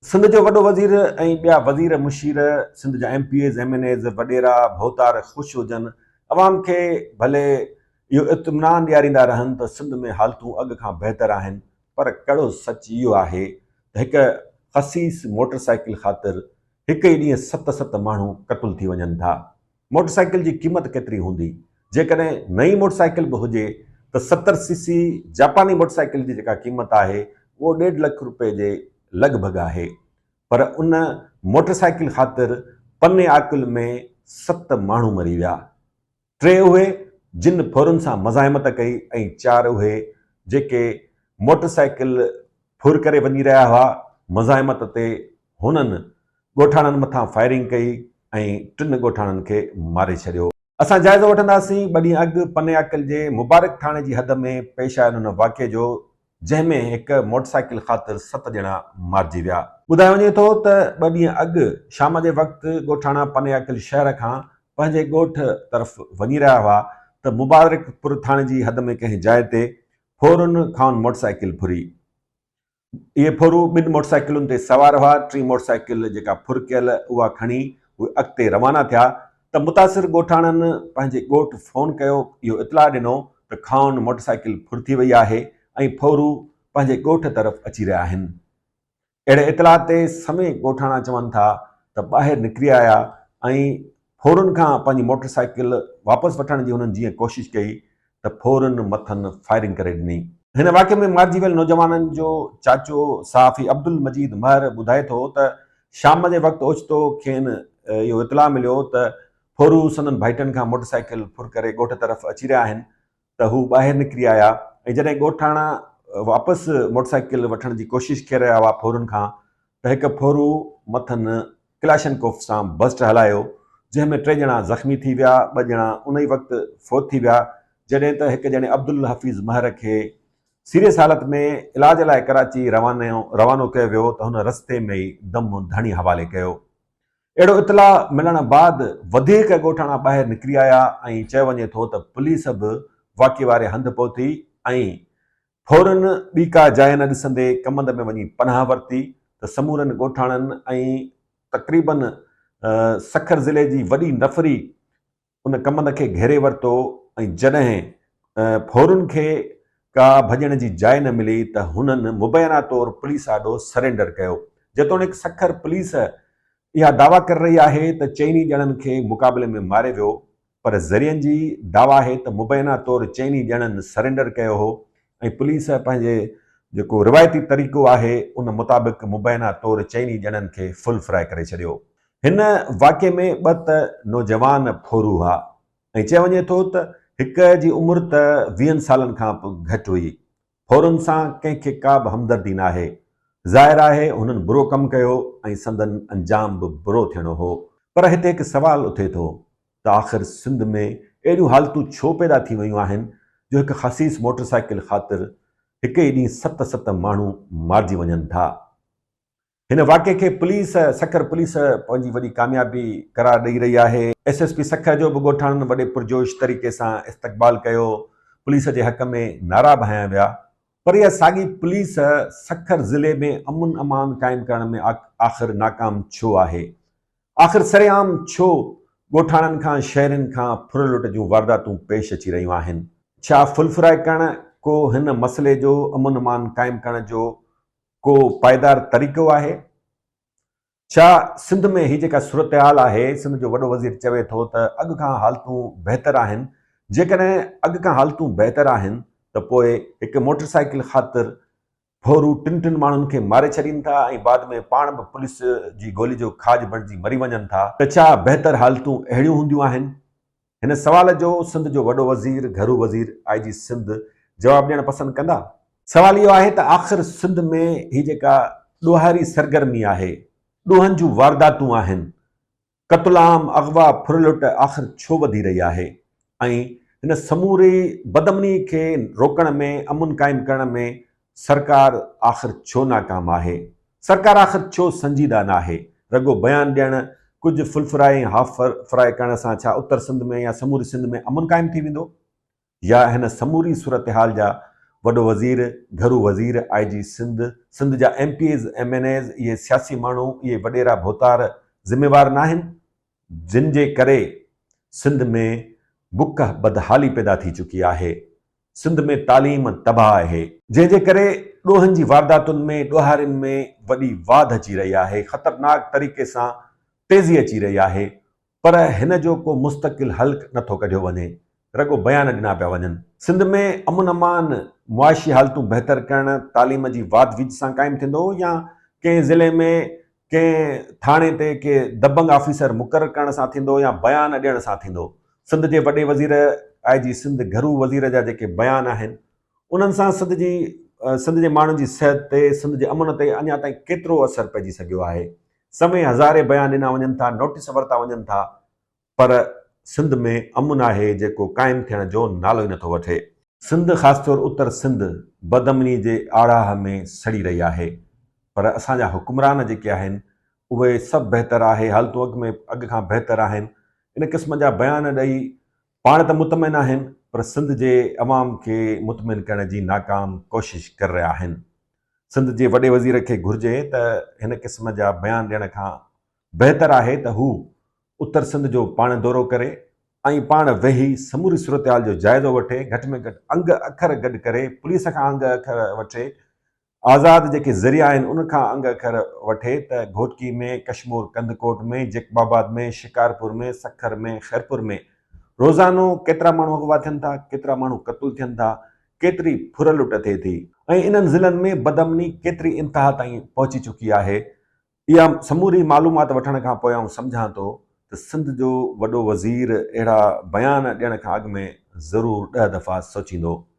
سنڌ جو وڏو وزير ۽ ٻيا وزير مشير، سنڌ جا M P As, M N As, وڏيرا، ڀوتار خوش هجن، عوام کي ڀلي اهو اطمينان ڏياريندا رهن ته سنڌ ۾ حالتون اڳ کان بهتر آهن پر ڪڙو سچ اهو آهي ته هڪ خسيس موٽر سائيڪل خاطر هڪ ئي ڏينهن ست ست ماڻهو قتل ٿي وڃن ٿا. موٽر سائيڪل جي قيمت ڪيتري هوندي؟ جيڪڏهن نئين موٽر سائيڪل به هجي ته ستر سي سي جاپاني موٽر سائيڪل جي جيڪا قيمت آهي اهو ڏيڍ لک روپيه جي لڳ ڀڳ آهي پر ان موٽر سائيڪل خاطر پنياڪل ۾ ست ماڻهو مري ويا ٽي اهي جن ڦرن سان مزاحمت ڪئي ۽ چار اهي جيڪي موٽر سائيڪل ڦر ڪري وڃي رهيا هئا مزاحمت تي هنن ڳوٺاڻن مٿان فائرنگ ڪئي ۽ ٽن ڳوٺاڻن کي ماري ڇڏيو. اسان جائزو وٺنداسين، ٻه ڏينهن اڳ پنياڪل جي مبارڪ ٿاڻي جي حد ۾ پيش آيل ان واقعي جو جنهن ۾ هڪ موٽرسائيڪل خاطر ست ڄڻا مارجي ويا. ٻڌايو وڃي ٿو ته ٻه ڏينهن اڳ شام جي وقت ڳوٺاڻا پنياڪل شهر کان پنهنجي ڳوٺ طرف وڃي رهيا هئا ته مبارڪ پور ٿاڻي جي حد ۾ ڪنهن جاء تي ڦورن کانئن موٽرسائيڪل ڦري اهي ڦورو ٻن موٽرسائيڪلن تي سوار هئا، ٽين موٽرسائيڪل جيڪا ڦر ڪيل اها کڻي اهي اڳتي روانا ٿيا ته متاثر ڳوٺاڻن پنهنجي ڳوٺ فون ڪيو اهو اطلاع ڏنو ته خائون موٽرسائيڪل ڦر ٿي وئي آهي ۽ ڦورو پنهنجي ڳوٺ طرف اچي رهيا آهن اهڙي اطلاع تي سمي ڳوٺاڻا چون ٿا ته ٻاهر نڪري آيا ۽ ڦورن کان پنهنجي موٽر سائيڪل واپس وٺڻ جي هنن جيئن ڪوشش ڪئي ته ڦورن مٿن فائرنگ ڪري ڏني. هن واقعي ۾ مارجي ويل نوجوانن جو چاچو صحافي عبدالمجيد مهر ٻڌائي ٿو ته شام جي وقت اوچتو کين اهو اطلاع مليو ته ڦورو سندن ڀائٽن کان موٽر سائيڪل ڦر ڪري ڳوٺ طرف اچي رهيا آهن ته هو ٻاهر نڪري آيا ۽ جڏهن ڳوٺاڻا واپس موٽر سائيڪل وٺڻ جي ڪوشش ڪي رهيا هئا ڦورن کان ته هڪ ڦورو مٿن ڪلاشنڪوف سان بسٽ هلايو جنهن ۾ ٽي ڄڻا زخمي ٿي ويا ٻه ڄڻا ان ئي وقت فوت ٿي ويا جڏهن ته هڪ ڄڻي عبدالحفيظ مهر کي سيريس حالت ۾ علاج لاء ڪراچي روانو ڪيو ويو ته هن رستي ۾ ئي دم ڌڻي حوالي ڪيو. اهڙو اطلاع ملڻ بعد وڌيڪ ڳوٺاڻا ٻاهر نڪري آيا ۽ چيو وڃي ٿو ته پوليس به واقعي واري هنڌ پهتي ۽ ڦورن ٻي ڪا جاء نه ڏسندي ڪمند ۾ وڃي پناهه ورتي ته سمورن ڳوٺاڻن ۽ تقريبن سکر ضلعي جي وڏي نفري ان ڪمند کي گهيري ورتو ۽ جڏهن ڦورن کي ڪا ڀڄڻ جي جاء نه ملي ته هنن مبينا طور پوليس آڏو سرينڊر ڪيو. جيتوڻيڪ سکر پوليس اها دعويٰ ڪري رهي آهي ته چئني ڄڻن کي مقابلي ۾ ماري ويو پر ذريعن جي دعويٰ آهي ته مبينا طور چئني ڄڻن سرينڊر ڪيو هو ۽ پوليس پنهنجي جيڪو روايتي طريقو آهي ان مطابق مبينا طور چئني ڄڻن کي فل فرائي ڪري ڇڏيو. هن واقعي ۾ ٻه ته نوجوان ڦورو هئا ۽ چيو وڃي ٿو ته هڪ جي عمر ته ويهن سالن کان به گهٽ هئي. ڦورن سان ڪنهن کي ڪا به همدردي ناهي. ظاهر آهي هنن برو ڪم ڪيو ۽ سندن انجام به برو ٿيڻو هو. پر هتي هڪ سوال اٿي ٿو ته آخر سنڌ ۾ اهڙيون حالتون ڇو پيدا ٿي ويون آهن جو هڪ خسيس موٽر سائيڪل خاطر هڪ ئي ڏينهن ست ست ماڻهو مارجي وڃن ٿا. هن واقعي کي پوليس سکر پوليس پنهنجي وڏي ڪاميابي قرار ڏئي رهي آهي. ايس ايس پي سکر جو به ڳوٺاڻن وڏي پرجوش طريقي سان استقبال ڪيو، پوليس جي حق ۾ نعرا به هنيا ويا پر اها ساڳي پوليس سکر ضلعي ۾ امن امان قائم ڪرڻ ۾ آخر ناڪام ڇو آهي؟ آخر سر عام ڇو ڳوٺاڻن کان شهرين کان ڦر لٽ جون وارداتون پيش اچي رهيون آهن؟ ڇا ڦل ڦرائي ڪرڻ ڪو هن مسئلي جو امن امان قائم ڪرڻ جو ڪو پائيدار طريقو آهي؟ ڇا سنڌ ۾ هي جيڪا صورتحال آهي، سنڌ جو وڏو وزير چوي ٿو ته اڳ کان حالتون بهتر آهن، جيڪڏهن اڳ کان حالتون بهتر آهن ته پوء هڪ موٽرسائيڪل خاطر ڦورو ٽن ٽن ماڻهن کي ماري ڇڏين ٿا ۽ بعد ۾ پاڻ به پوليس جي گولي جو کاڄ بڻجي مري وڃن ٿا ته ڇا بهتر حالتون اهڙيون هونديون آهن؟ هن سوال جو سنڌ جو وڏو وزير گهرو وزير آء جي سنڌ جواب ڏيڻ پسند ڪندا؟ سوال اهو آهي ته آخر سنڌ ۾ هي جيڪا ڏوهاري سرگرمي آهي، ڏوهن جون وارداتون آهن، قتل عام، اغوا، ڦر لٽ آخر ڇو وڌي رهي آهي ۽ هن سموري بدامني کي روڪڻ ۾ امن قائم ڪرڻ ۾ سرڪار آخر ڇو ناڪام آهي؟ سرڪار آخر ڇو سنجيده ناهي؟ رڳو بيان ڏيڻ، ڪجهه ڦلڦرائي ۽ هاف فرائي ڪرڻ سان ڇا اتر سنڌ ۾ يا سموري سنڌ ۾ امن قائم ٿي ويندو؟ يا هن سموري صورتحال جا وڏو وزير، گهرو وزير، آء جي سنڌ، سنڌ جا M P As, M N As, اهي سياسي ماڻهو، اهي وڏيرا ڀوتار ذميوار ناهن؟ جن جي ڪري سنڌ ۾ بک بدحالي پيدا ٿي چڪي آهي، سنڌ ۾ تعليم تباهه آهي، جنهن جي ڪري ڏوهن جي وارداتن ۾ ڏوهارين ۾ وڏي واڌ اچي رهي آهي، خطرناڪ طريقي سان تيزي اچي رهي آهي، پر هن جو ڪو مستقل حل نه ٿو ڪڍيو وڃي، رڳو بيان ڏنا پيا وڃن. سنڌ ۾ امن امان، معاشي حالتون بهتر ڪرڻ، تعليم جي واڌ ويجهه سان قائم ٿيندو يا ڪنهن ضلعي ۾ ڪنهن ٿاڻي تي ڪي دبنگ آفيسر مقرر ڪرڻ سان ٿيندو يا بيان ڏيڻ سان ٿيندو. سنڌ جي وڏي وزير آء جي سنڌ گهرو وزير جا جيڪي بيان آهن، انهن سان سنڌ جي سنڌ جي ماڻهن جي صحت تي سنڌ جي امن تي اڃا تائين ڪيترو اثر پئجي سگهيو آهي سمي هزارين بيان ڏنا وڃن ٿا نوٽيس ورتا وڃن ٿا پر سنڌ ۾ امن آهي جيڪو قائم ٿيڻ جو نالو ئي نٿو وٺي سنڌ خاص طور اتر سنڌ بد امني جي آڙاهه ۾ سڙي رهي آهي پر اسان جا حڪمران جيڪي آهن اهي سڀ بهتر آهي حالتون اڳ ۾ اڳ کان بهتر آهن ان قسم جا بيان ڏئي پاڻ ته مطمئن آهن پر سنڌ جي عوام کي مطمئن ڪرڻ جي ناڪام ڪوشش ڪر رهيا آهن، سنڌ جي وڏي وزير کي گهرجي ته هن قسم جا بيان ڏيڻ کان بهتر آهي ته هو اتر سنڌ جو پاڻ دورو ڪري ۽ پاڻ ويهي سموري صورتحال جو جائزو وٺي گهٽ ۾ گهٽ انگ اکر گڏ ڪري پوليس کان انگ اکر وٺي آزاد جيڪي ذريعا آهن ان کان انگ اکر وٺي ته گهوٽڪي ۾، ڪشمور ڪنڌڪوٽ ۾، جيڪب آباد ۾، شڪارپور ۾، سکر ۾، خيرپور ۾ روزانو ڪيترا ماڻهو اغوا ٿين ٿا، ڪيترا ماڻهو قتل ٿين ٿا، ڪيتري ڦر لٽ ٿئي ٿي. ۽ انهن ضلعن ۾ بدامني ڪيتري انتها تائين پهچي چڪي آهي، اها سموري معلومات وٺڻ کان پوء آئون سمجهان ٿو ته سنڌ جو وڏو وزير اهڙا بيان ڏيڻ کان اڳ ۾ ضرور ڏهه دفعا سوچيندو.